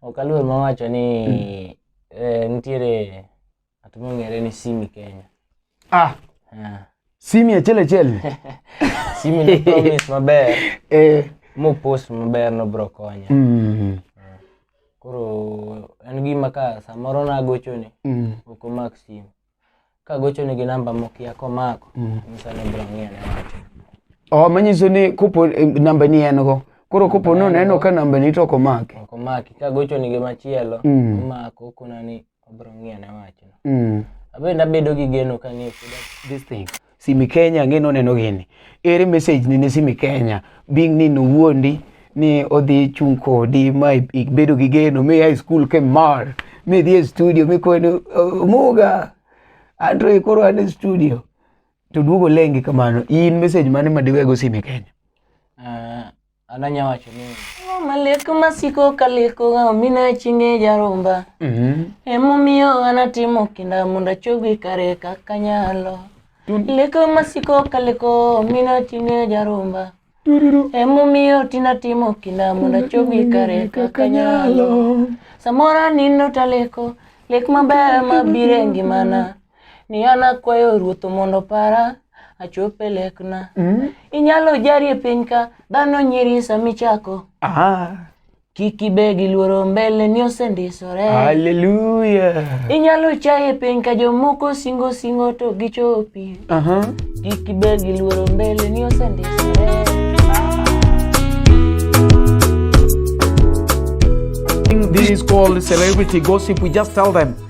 Ok aluor mawacho ni eh, nitiere at mong'ere ni Simi Kenya. Ah, Ah, simi achiel achiel. Simi ne promise maber Eh. mopost maber nobro konya. Mm. Koro en gima ka samoro nagochoni Mm. ok omak simu. kagochonigi namba mokia komako mm. nyisa ni bro ng'iyo ne wacho oh, manyiso ni kopo eh, namba ni en go koro kopo no neno ka namba ni to komaki komaki kagochonigi machielo mm. omako kuna ni obro ng'iyo ne wacho mm. abende abedo gi geno ka ni this thing Simi Kenya ang'e noneno gini. Ere message ni ne Simi Kenya? Bing ni nowuondi ni odhi chung' kodi ma ibedo gi geno mi high school ke mar mi dhi e studio mi kweni "Oh, muga Andre koro an e studio to duogo lengi kamano in message mane ma diwego Simi Kenya? Ah, ananya wacho ni "Ang'o malek masiko kalekoga omina chinge jaromba Mhm. emomiyo anatimo kinda mondo achogi kare kaka nyalo Tun- leko masiko kaleko omina chinge jaromba Tururu. emomiyo tinatimo kinda mondo achogi kare kaka nyalo samoro anindo taleko lek maber mabiro e ngimana ni an akwayo ruoth mondo opara achop e lekna Mm. inyalo jari e piny ka dhano nyiri samichako Ah, kik ibe gi luoro mbele ni osendisore hallelujah. inyalo chaye e piny ka jomoko singo singo to gichopi Aha. kik ibe gi luoro mbele ni osendisore This called celebrity gossip. We just tell them